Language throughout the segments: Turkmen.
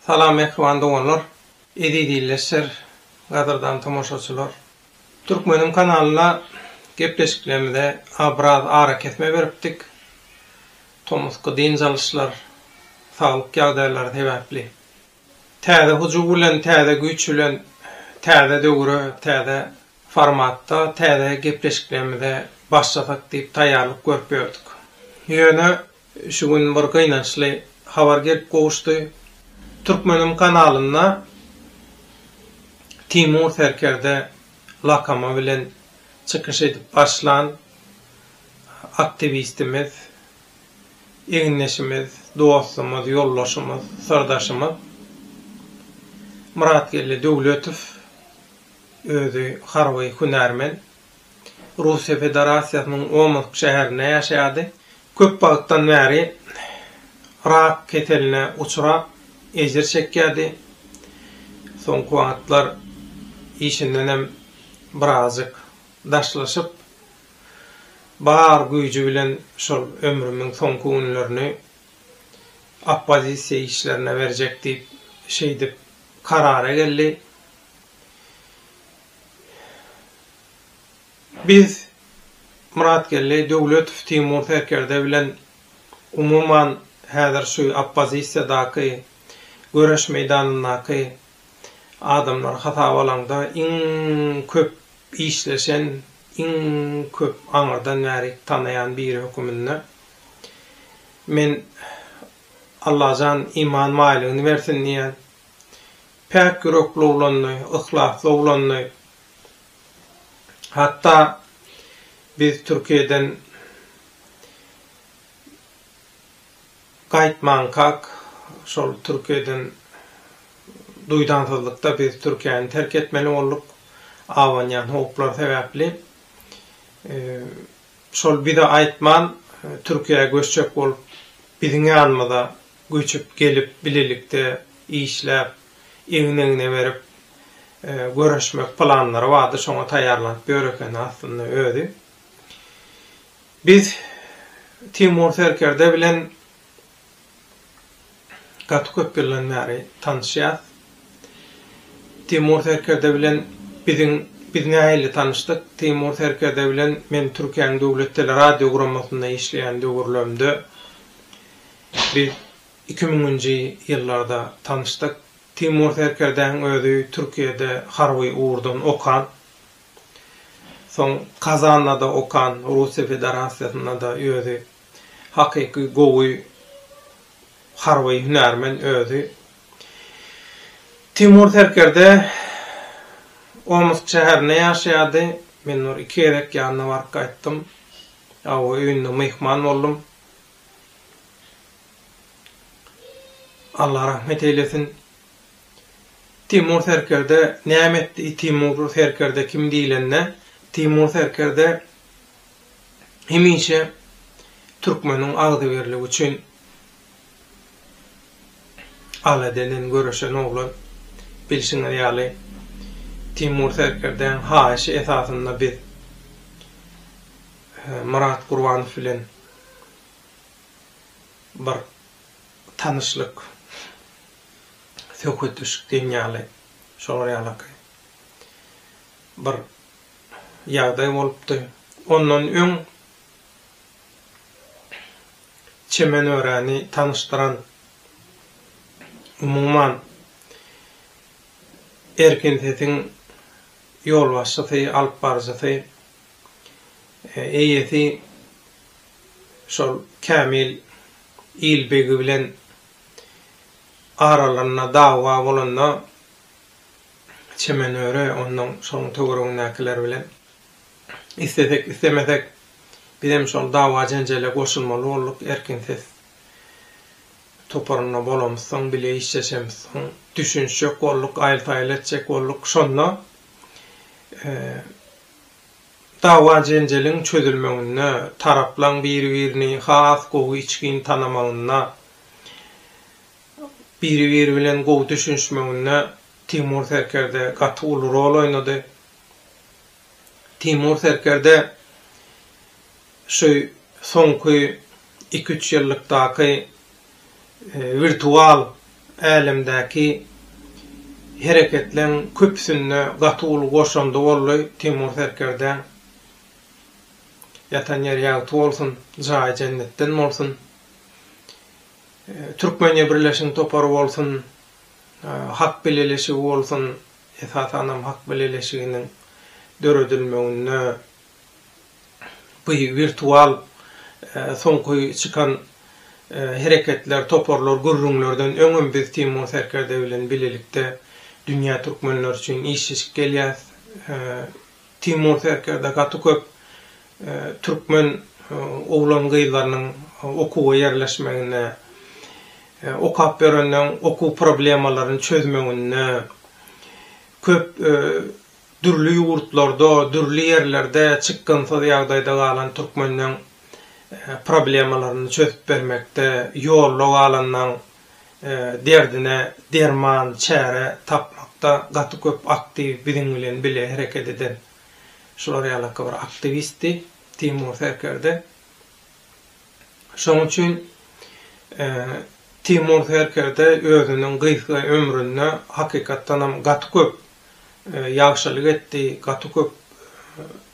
Salam mähriban doganlar, eziz ildeşler, gadyrdan tomaşaçylar! Türkmenim kanalynda gepleşiklerimize biraz arakesme beripdik, tomusky dynç alyşlar, saglyk ýagdaýlary sebäpli. Täze hujuw bilen, täze güýç bilen täze döwre, täze formatda täze gepleşiklerimize başlasak diýip taýýarlyk görüp ýördük. Ýöne Şu gün bir gynançly habar gelip gowuşdy. Türkmenim kanalynda Timur Serkerde lakamy bilen çykyş edip başlan aktiwistimiz, egindeşimiz, dostumyz, ýoldaşymyz, syrdaşymyz Myratgeldi Döwletow, özi harby hünärmen, Russiýa Federasiýasynyň Omsk şäherinde ýaşaýardy. Köp wagtdan bäri rak keseline uçrap, ejir çekýärdi. Soňky wagtlar işindenem birazjyk daşlaşyp, bar güýji bilen şol ömrümiň soňky günlerini oppozisiýa işlerine berjek diýip, şeýdip karara geldi. Biz Myratgeldi Döwletow Timur serkerde bilen umuman häzir şu oppozisiýadaky göreş meýdanyndaky adamlar hasaba alaňda iň köp işleşen, iň köp aňyrdan bäri tanaýan biri höküminde men Allajan iman baýlygyny bersin diýýän. Päk ýürekli oglandy, yhlasly oglandy. Hatda biz Türkiýeden gaýtmankak, şol Türkiýeden duýdansyzlykda biz Türkiýäni terk etmeli bolduk, abanýan howplar sebäpli. Şol bize aýtman Türkiýä göçjek bolup biziň ýanymyza göçüp gelip bilelikde işläp egin egne berip göreşmek planlary bardy şoňa taýýarlanyp ýör ekeni aslynda özi. Biz Timur serkerde bilen Gaty köp ýyldan bäri tanyşýas. Timur serkerde bilen biziň biz nähili tanyşdyk? Timur serkerde bilen men Türkiýäniň döwlet teleradiogurammasynda işleýän döwürlerimde biz iki müňünji ýyllarda tanyşdyk. Timur serkerdäň özi Türkiýede harby ugurdan okan. Soň Kazanda-da okan, Russiýa Federasiýasynda-da özi Hakyky gowy harby hünärmen özi. Timur serkerde Omsk şäherinde ýaşaýardy. Men bir iki gezek ýanyna baryp gaýtdym. Awy öýünde myhman boldum. Allah rahmet eýlesin. Timur serkerde näme etdi? Timur serkerde kim diýlende, Timur serkerde hemişe türkmeniň agzybirligi üçin aladeden göreşen oglan. Bilşiňiz ýaly, Timur Serkerdäň haýyşy esasynda biz Myrat Gurbanow bilen bir tanyşlyk, söhbetdeşlik diýen ýaly, şolar ýalakay, bir ýagdaý bolupdy. Ondan öň Çemen öreni tanyşdyran, umuman, Erkin sesiň ýolbaşçysy, alyp baryjysy, eýesi şol Kämil il begi bilen aralarynda dawa bolanda, Çemen öre, onnoň şoň töweregindäkiler bilen islesek, islemesek, bizem şol dawa-jenjele goşulmaly bolduk. Erkin ses toparynda bolamyzsoň, bile işleşemizsoň, düşünişjek bolduk, aýyl-saýyl etjek bolduk. Şonda dawa-jenjeliň çözülmeginde, taraplaň biri-birini has gowy içgin tanamagynda Biri-biri bilen gowy düşünişmeginde Timur serkerde gaty uly rol oýnady. Timur serkerde şu soňky iki-üç ýyllykdaky wirtual älemdäki hereketleň köpüsinde gaty uly goşandy boldy Timur serkerdäň. Ýatan ýeri ýagty bolsun, jaýy jennetden bolsun. Türkmeniýa birleşen topary bolsun, Hak bileleşigi bolsun, esasanam Hak bileleşiginiň döredilmeginde bu wirtual soňky çykan hereketler, toparlar, gürrüňlerden öňem biz Timur Serkerdäwi bilen bilelikde Dünýä Türkmenleri üçin işleşip gelýäs. Timur serkerde gaty köp türkmen oglan-gyzlarynyň okuwa ýerleşmegine, okap ýörenleň okuw problemalaryny çözmeginde, köp dürli ýurtlarda, dürli ýerlerde çykgynsyz ýagdaýda galan türkmenleň problemalaryny çözüp bermekde, ýolda galanlaň derdine derman, çäre tapmakda gaty köp aktiw biziň bilen bile hereket eden şular ýalaka bir aktiwistdi Timur Serkerde. Şoň üçin Timur Serkerde özüniň gysga ömründe hakykatdanam gaty köp ýagşylyk etdi, gaty köp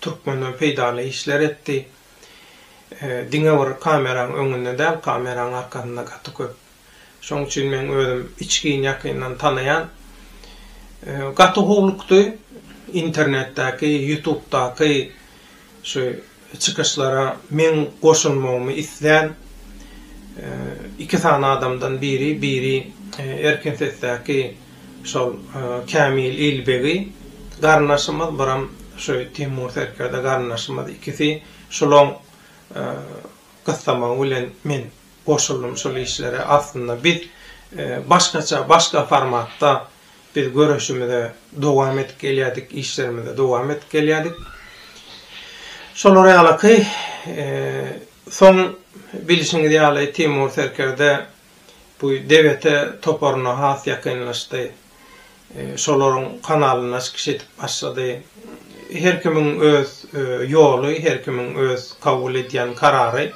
türkmene peýdaly işler etdi. Diňe bir kameraň öňünde däl, kameraň arkasynda gaty köp. Şoň üçin meň özüm içgin ýakyndan tanaýan. Gaty howlukdy. Internetdäki, ýutubdaky şu çykyşlara meň goşulmagymy islän iki sany adamdan biri, biri Erkin sesdäki Şol Kämil Ilbegi garyndaşymyz, biram şu Timur serkerde garyndaşymyz ikisi şolaň gyssamagy bilen men goşuldym şol işlere. Aslynda biz başgaça, başga formatda biz göreşimize dowam edip gelýärdik, işlerimize dowam edip gelýärdik. Şolar ýalyky, soň bilşiňiz ýaly Timur serkerde bu DGT toparyna has ýakynlaşdy. Şolaryň kanalynda çykyş edip başlady. Her kimiň öz ýoly, her kimiň öz kabul edýän karary.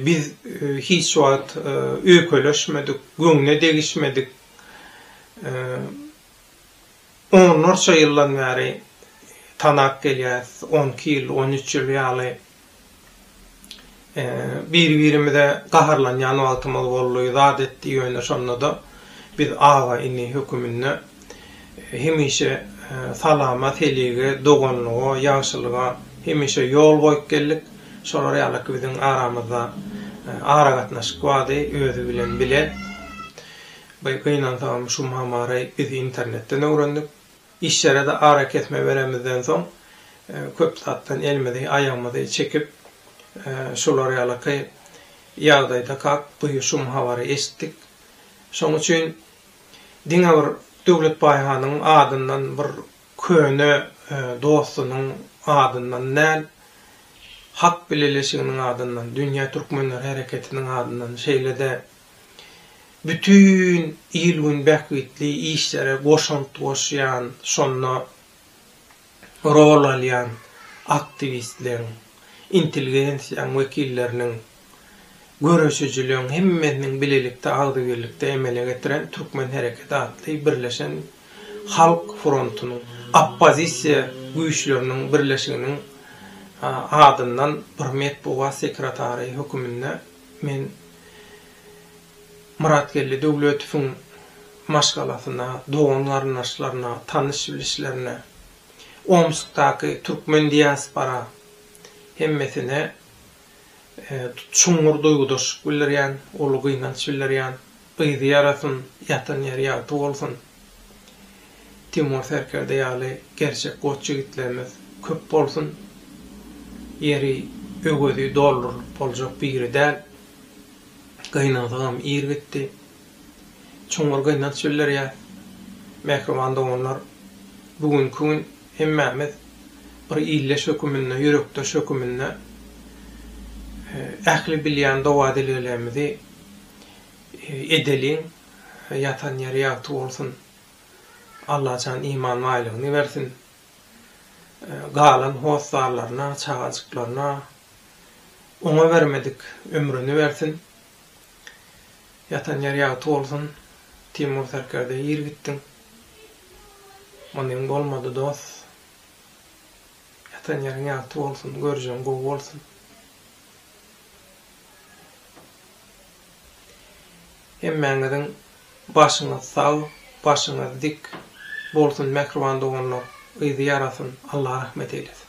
Biz hiç wagt öýkeleşmedik, göwne degişmedik. Onlarça ýyldan bäri tanap gelýäris, on iki ýyl, on üç ýyl ýaly. Biri-birimize gaharlanýan wagtymyz boldy, zat etdi, ýöne şonda-da biz aga-ini höküminde hemişe salama, selige, doganlyga, ýagşylyga hemişe ýol goýup geldik. Şolar ýalyky biziň aramyzda aragatnaşyk bardy, özi bilen bile. Gynansagam, şu Mamaryy biz internetden öwrendik. Işlere-de arakesme beremizden soň, köp zatdan elimizi, aýagymyzy çekip, şular ýalyky ýagdaýdakak duýuşum habary eşitdik. Şoň üçin diňe bir Döwlet Baýhanyň adyndan bir köne dostunyň adyndan däl, Hak bileleşiginiň adyndan, Dünýä Türkmenleri Hereketiniň adyndan, şeýle-de Bütin il-gün bähbitli işlere goşant goşýan, şonda rol alýan aktiwistleriň, intelligensiýaň wekilleriniň, göreşijileriň hemmesiniň bilelikde agzybirlikde emele getiren Türkmen hereketi atly birleşen halk frontunyň, oppozisiýa güýçleriniň birleşiginiň adyndan bir metbugat sekretary höküminde Men Myratgeldi Döwletowyň maşgalasyna, dogan-garyndaşlaryna, tanyş-bilişlerine, Omskdaky türkmen diaspora hemmesine çuňňur duýgudaşlyk bildirýän, uly gynanç bildirýän. Gyzy ýarasyn, ýatan ýeri ýagty bolsun. Timur Serkerde ýaly gerçek goç ýigitlerimiz köp bolsun. Ýeri, öwezi doldurylyp boljak biri däl. Gynansagam ir gitdi. Çuňňur gynanç bildirýäs. Mähriban doganlar, bu günki gün hemmämiz bir ildeş höküminde, ýürekdeş höküminde ähli bilýän doga-dileglerimizi edeliň ýatan ýeri ýagty bolsun Allajan iman baýlygyny bersin galan hossarlaryna çagajyklaryna oňa bermedik ömrüni bersin ýatan ýeri ýagty bolsun Timur serkerde ir gitdiň munyň bolmady dost ýatan ýeriň ýagty bolsun görjeň gowy bolsun. Hemmäňiziň başyňyz sag, başyňyz dik bolsun mähriban doganlar, yzy ýarasyn, Allah rahmet eýlesin.